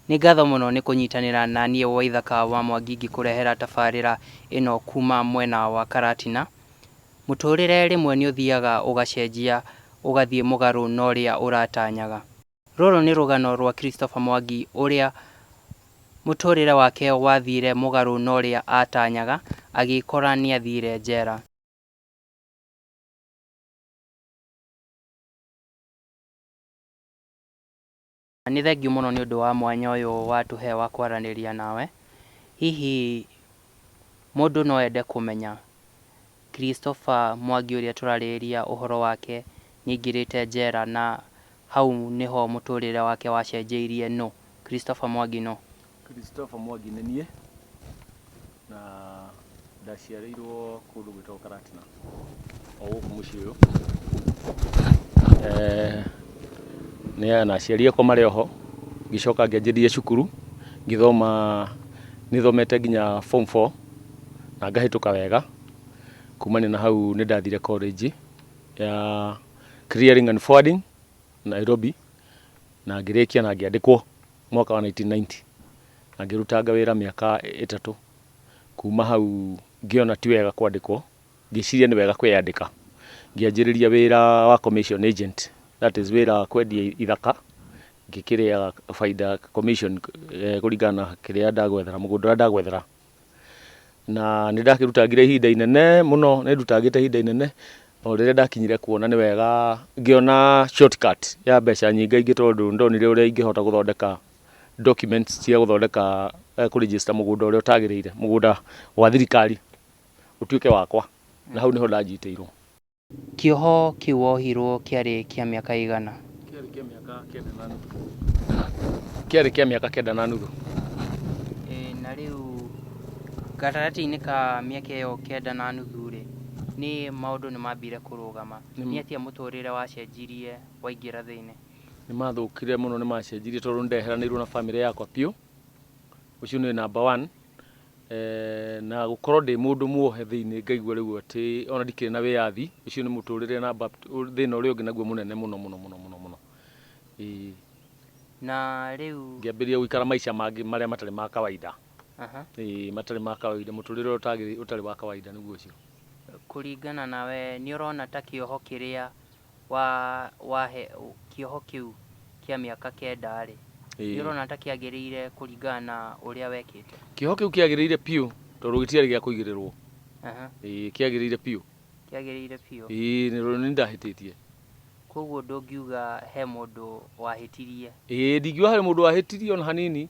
Nĩ ngatho mũno nĩ kũnyitanĩra na niĩ Waithaka wa Mwangi ngĩkũrehera tabarĩra ĩno kuuma mwena wa Karatina. Mũtũrĩre rĩmwe nĩ ũthiaga ũgacenjia ũgathiĩ mũgarũ na ũrĩa ũratanyaga. Rũrũ nĩ rũgano rwa Christopher Mwangi ũrĩa mũtũrĩre wake wathire mũgarũ na ũrĩa atanyaga agĩkora nĩathire njera. Nĩ thengiũ mũno nĩ ũndũ wa mwanya ũyũ watũhe wa kwaranĩria nawe. Hihi mũndũ no ende kũmenya Christopher Mwangi ũrĩa tũrarĩrĩria ũhoro wake nĩ aingĩrĩte njera na hau nĩho mũtũrĩre wake wacenjĩirie nũ? Christopher Mwangi nũ? Christopher Mwangi nĩ niĩ, na ndaciarĩirwo kũndũ gwĩtagwo Karatina, o gũkũ mũciĩ ũyũ. Na aciari akwa marĩ oho, ngĩcoka ngĩanjĩrĩria cukuru, ngĩthoma, nĩ thomete nginya form four, na ngahĩtũka wega. Kumania na hau nĩ ndathire college ya Clearing and Forwarding Nairobi, na ngĩrĩkia na ngĩandĩkwo. mwaka wa 1990 na ngĩrutanga wĩra mĩaka ĩtatũ. Kuma hau ngĩona ti wega kwandĩkwo, ngĩciria nĩ wega kwĩyandĩka. Ngĩanjĩrĩria wĩra wa commission agent, that is wĩra wa kwendia ithaka, ngĩkĩrĩaga bainda commission kũringana na kĩrĩa ndagwethera, mũgũnda ũrĩa ndagwethera. na nĩ ndakĩrutangire ihinda inene mũno nĩ ndutangĩte ihinda inene o rĩrĩa ndakinyire kuona nĩ wega ngĩona shortcut ya mbeca nyingĩ ingĩ tondũ nĩ ndonire ũrĩa ingĩhota gũthondeka documents cia gũthondeka eh, kũ register mũgũnda ũrĩa ũtagĩrĩire mũgũnda wa thirikari ũtuĩke wakwa na hau nĩho ndanjitĩirwo Kĩoho kĩu wohirũo kĩarĩ kĩa mĩaka ĩigana? Kĩarĩ kĩa mĩaka kenda na nuthu. Kĩarĩ kĩa mĩaka kenda na nuthu. E, na rĩu gatagatĩ-inĩ ka mĩaka ĩyo kenda na nuthu-rĩ, nĩ maũndũ nĩ mambire kũrũgama. Nĩ atĩa mũtũrĩre wacenjirie waingĩra thĩinĩ? Nĩ mathũkire mũno, nĩ macenjirie tondũ nĩ ndeheranĩirwo na famĩlĩ yakwa biũ. Ũcio nĩ namba one. Na gũkorwo ndĩ mũndũ muohe thĩinĩ ngaigua rĩu atĩ ona ndikĩrĩ na wĩyathi, ũcio nĩ mũtũrĩre na thĩna ũrĩa ũngĩ naguo mũnene mũno mũno mũno mũno mũno. Ĩĩ. Na rĩu. Ngĩambĩrĩria gũikara maica mangĩ marĩa matarĩ ma kawaida. Ĩĩ matarĩ ma kawaida, mũtũrĩre ũrĩa ũtarĩ wa kawaida nĩguo ũcio. Kũringana nawe nĩ ũrona ta kĩoho kĩrĩa wa wahe kĩoho kĩu kĩa mĩaka kenda-rĩ, Ĩĩ. nĩ ũrona ta kĩagĩrĩire kũringana na ũrĩa wekĩte? Kĩoho kĩu kĩagĩrĩire biũ tondũ gĩtiarĩ gĩa kũigĩrĩrwo. Aha, Ĩĩ, kĩagĩrĩire biũ. kĩagĩrĩire biũ. Ĩĩ, nĩ nĩ ndahĩtĩtie. Koguo ndũngiuga he mũndũ wahĩtirie. Ĩĩ, ndingiuga harĩ mũndũ wahĩtirie ona hanini.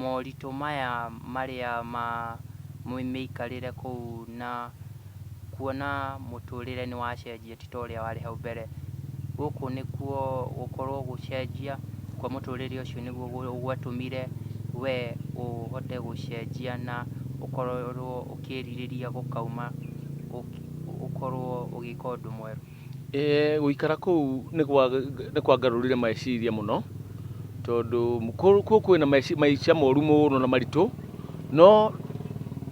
moritũ maya marĩa ma mĩikarĩre kũu na kuona mũtũrĩre nĩ wacenjia ti ta ũrĩa warĩ hau mbere. Gũkũ nĩkuo gũkorwo gũcenjia kwa mũtũrĩre ũcio nĩguo gwatũmire we ũhote gũcenjia na ũkorwo ũkĩrirĩria gũkauma ũkorwo ũgĩka ũndũ mwerũ. Eeh gũikara kũu nĩ kwangarũrire meciria mũno, tondũ kũu kwĩ na maica moru mũno na maritũ, no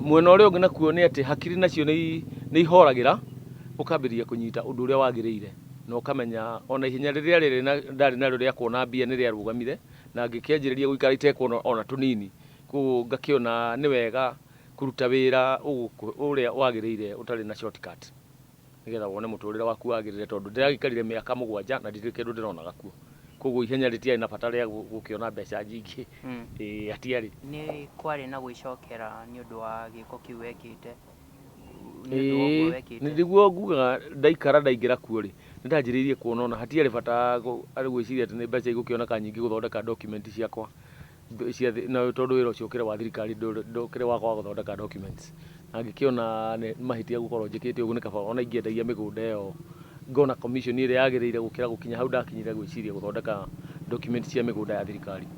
mwena ũrĩa ũngĩ nakuo nĩ atĩ hakiri nacio nĩ ihoragĩra, ũkambĩrĩria kũnyita ũndũ ũrĩa wagĩrĩire, na ũkamenya ona ihenya rĩrĩa rĩrĩ ndarĩ narĩo rĩa kuona mbia nĩ rĩarũgamire, na ngĩkĩanjĩrĩria gũikara itekuona ona tũnini, koguo ngakĩona nĩ wega kũruta wĩra ũrĩa wagĩrĩire ũtarĩ na shortcut. nĩgetha wone mũtũũrĩre waku wagĩrĩre, tondũ ndĩragĩikarire mĩaka mũgwanja na ndikĩrĩ kĩndũ ndĩronaga kuo. Kwoguo ihenya rĩtiarĩ na bata rĩa gũkĩona mbeca nyingĩ, ĩĩ hatiarĩ. Nĩ kwarĩ na gwĩcokera nĩ ũndũ wa gĩĩko kĩu wekĩte? Ĩĩ, nĩguo ngugaga ndaikara ndaingĩra kuo-rĩ, nĩ ndanjĩrĩirie kuona ona hatiarĩ bata gwĩciria atĩ nĩ mbeca igũkĩoneka nyingĩ gũthondeka document ciakwa. tondũ wĩra ũcio ũkĩrĩ wa thirikari ndũkĩrĩ wakwa wa gũthondeka documents na ngĩkĩona nĩ mahĩtia gũkorwo njĩkĩte ũguo nĩ kaba ona ingĩendagia mĩgũnda ĩyo ngona commission ĩrĩa yagĩrĩire gũkĩra gũkinya hau ndakinyire gwĩciria gũthondeka documents cia mĩgũnda ya thirikari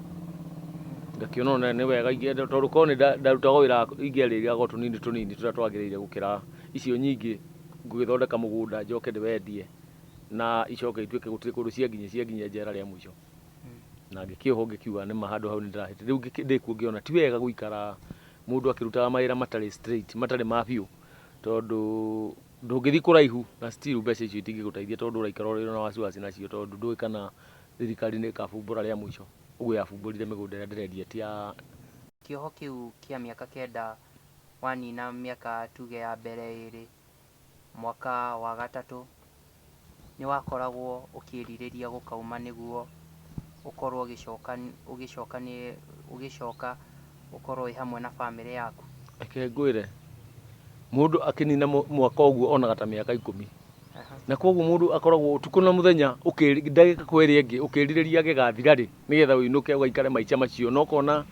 ngakĩona ona nĩ wega ingĩenda tondũ korwo nĩ nda- ndarutaga wĩra ingĩarĩria go tũnini tũnini tũrĩa twagĩrĩire gũkĩra icio nyingĩ ngũgĩthondeka mũgũnda njoke ndĩwendie na icoke ituĩke gũtirĩ kũndũ cianginyia cianginyia njera rĩa mũico na ngĩkĩohwo ngĩkiuga nĩ ma handũ hau nĩ ndĩrahĩte rĩu ngĩkĩ- ndĩ kuo ngĩona ti wega gũikara mũndũ akĩrutaga mawĩra matarĩ straight matarĩ ma biũ tondũ ndũngĩthiĩ kũraihu na still mbeca icio itingĩgũteithia tondũ ũraikara ũrĩ na wasiwasi nacio tondũ ndũĩ kana thirikari nĩ ĩkabumbũra rĩa mũico ũguo yabumbũrire mĩgũnda ĩrĩa ndĩrendia ti ya Kĩoho kĩu kĩa mĩaka kenda wanina mĩaka tuge ya mbere ĩĩrĩ, Mwaka wa gatatũ nĩ wakoragwo ũkĩrirĩria gũkauma nĩguo ũkorwo ũgĩcoka ũgĩcoka nĩ ũgĩcoka ũkorwo wĩ hamwe na bamĩrĩ yaku? Reke ngwĩre, mũndũ akĩnina mwaka ũguo onaga ta mĩaka ikũmi. Aha. Na koguo mũndũ akoragwo ũtukũ na mũthenya ũkĩ- ndagĩka kwa ĩrĩa ĩngĩ ũkĩrirĩria gĩgathira rĩ, nĩgetha ũinũke ũgaikare maica macio. Na ũkona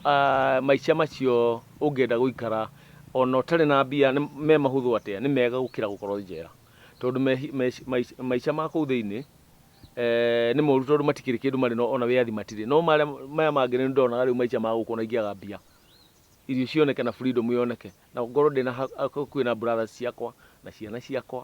ah, maica macio ũngĩenda gũikara O na ũtarĩ na mbia, nĩ me mahũthũ atĩa, nĩ mega gũkĩra gũkorũo njera. Tondũ maica ma kũu thĩinĩ nĩ moru tondũ matikĩrĩ kĩndũ marĩ no, o na wĩyathi matirĩ. No maya mangĩ nĩ ndonaga rĩu maica ma gũkũ o na ingĩaga mbia, irio cioneke na freedom yoneke, na ngorũo ndĩ na hakuhĩ na brothers ciakwa, na ciana ciakwa,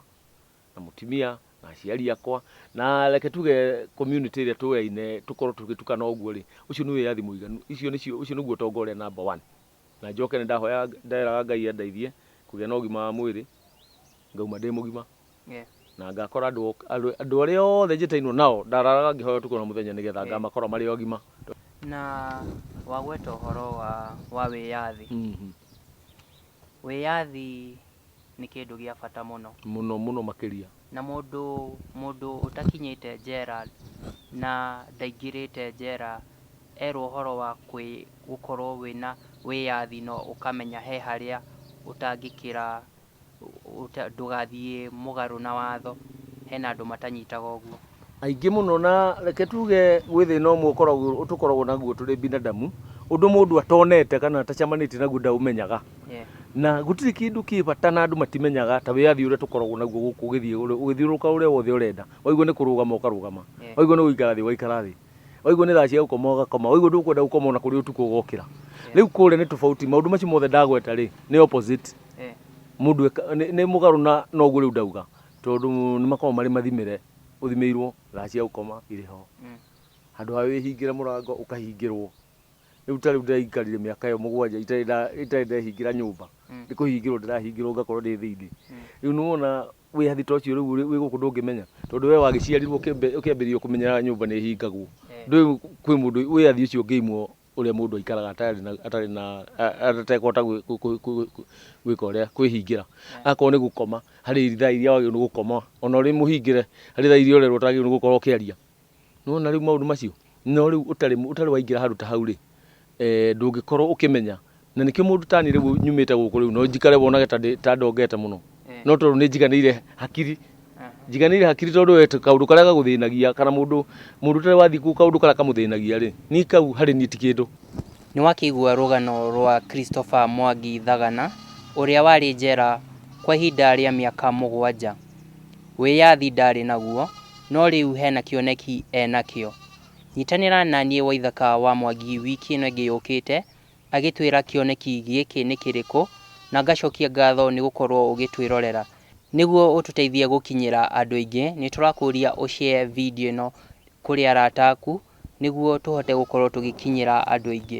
na mũtumia, na aciari akwa, na reke tuge community ĩrĩa tũyaine tũkorũo tũgĩtukana ũguo-rĩ, ũcio nĩ wĩyathi mũiganu. Ũcio nĩguo ũtonga ũrĩa number one. Na njoke nĩndahoya nderaga Ngai andeithie kũgĩa na ũgima wa mwĩrĩ ngauma ndĩ mũgima na ngakora andũ andũ arĩa othe njĩtainwo nao ndararaga ngĩhoya ũtukũ na mũthenya nĩgetha ngamakora marĩ agima. Na wagweta ũhoro wa wa wĩyathi, wĩyathi nĩ kĩndũ gĩa bata mũno. Mũno mũno makĩria. Na mũndũ mũndũ ũtakinyĩte njera na ndaingĩrĩte njera erwo ũhoro wa kwĩ gũkorwo wĩna wĩyathi na ũkamenya he harĩa ũtangĩkĩra ndũgathiĩ mũgarũ na watho, hena andũ matanyitaga ũguo. aingĩ mũno na reke tuge gwĩ thĩna ũmwe ũkoragwo tũkoragwo naguo tũrĩ binadamu ũndũ mũndũ atonete kana atacamanĩtie naguo ndaũmenyaga Yeah. na gũtirĩ kĩndũ kĩ bata na andũ matimenyaga ta wĩyathi ũrĩa tũkoragwo naguo gũkũ ũgĩthiĩ ũrĩ- ũgĩthiũrũrũka ũrĩa wothe ũrenda waigua nĩ kũrũgama ũkarũgama Yeah. waigua nĩ gũikara thĩ ũgaikara thĩ waigua nĩ thaa cia gũkoma ũgakoma waigua ndũkwenda gũkoma ona kũrĩ ũtukũ ũgokĩra rĩu kũrĩa nĩ tofauti maũndũ macio mothe ndagweta rĩ nĩ opposite Yeah. mũndũ eka- nĩ nĩ mũgarũ na noguo rĩu ndauga Tondũ nĩmakoragwo marĩ mathimĩre, ũthimĩirwo thaa cia gũkoma irĩ ho, handũ ha wĩhingĩre mũrango ũkahingĩrwo. Rĩu ta rĩu ndĩraikarire mĩaka ĩyo mũgwanja itarĩ nda, itarĩ ndehingĩra nyũmba, nĩ kũhingĩrwo ndĩrahingĩrwo ngakorwo ndĩ thĩiniĩ. Rĩu nĩwona wĩyathi ta ũcio rĩu ũrĩ, wĩ gũkũ ndũngĩmenya, tondũ wee wagĩciarirwo ũkĩambĩrĩria kũmenya nyũmba nĩhingagwo, ndũĩ kwĩ mũndũ wĩyathi ũcio ũngĩimwo. ũrĩa mũndũ aikaraga atarĩ na atarĩ na a- a- atekũhota gwĩ- kũ- kũ- kũ- kũ- gwĩka ũrĩa kwĩhingĩra akorwo nĩ gũkoma harĩ ithaa iria wagĩrĩirwo nĩ gũkoma ona ũrĩ mũhingĩre harĩ thaa iria ũrerwo ũtagĩrĩirwo nĩ gũkorwo ũkĩaria nĩwona rĩu maũndũ macio no rĩu ũtarĩ mũ- ũtarĩ waingĩra handũ ta hau rĩ eh, ndũngĩkorwo ũkĩmenya Na nĩkĩo mũndũ tani rĩu nyumĩte gũkũ rĩu no njikare wonage ta ndĩ- ta ndongete mũno no tondũ nĩ njiganĩire hakiri njiganĩire hakiri tondũ we tũ- kaũndũ karĩa gagũthĩnagia kana mũndũ mũndũ ũtarĩ wathiĩ kũu kaũndũ karĩa kamũthĩnagia rĩ niĩ kau harĩ niĩ ti kĩndũ Nĩ wakĩigua rũgano rwa Christopher Mwangi Thagana, ũrĩa warĩ njera kwa ihinda rĩa mĩaka mũgwanja. Wĩyathi ndaarĩ naguo, no rĩu hena kĩoneki enakĩo. Nyitanĩra na niĩ Waithaka wa Mwangi wiki ĩno ĩngĩ yũkĩte, agĩtwĩra kĩoneki gĩkĩ nĩ kĩrĩkũ, na ngacokia ngatho nĩ gũkorwo ũgĩtwĩrorera. Nĩguo ũtũteithie gũkinyĩra andũ aingĩ, nĩ tũrakũria ũ share video ĩno kũrĩ arata aku nĩguo tũhote gũkorwo tũgĩkinyĩra andũ aingĩ.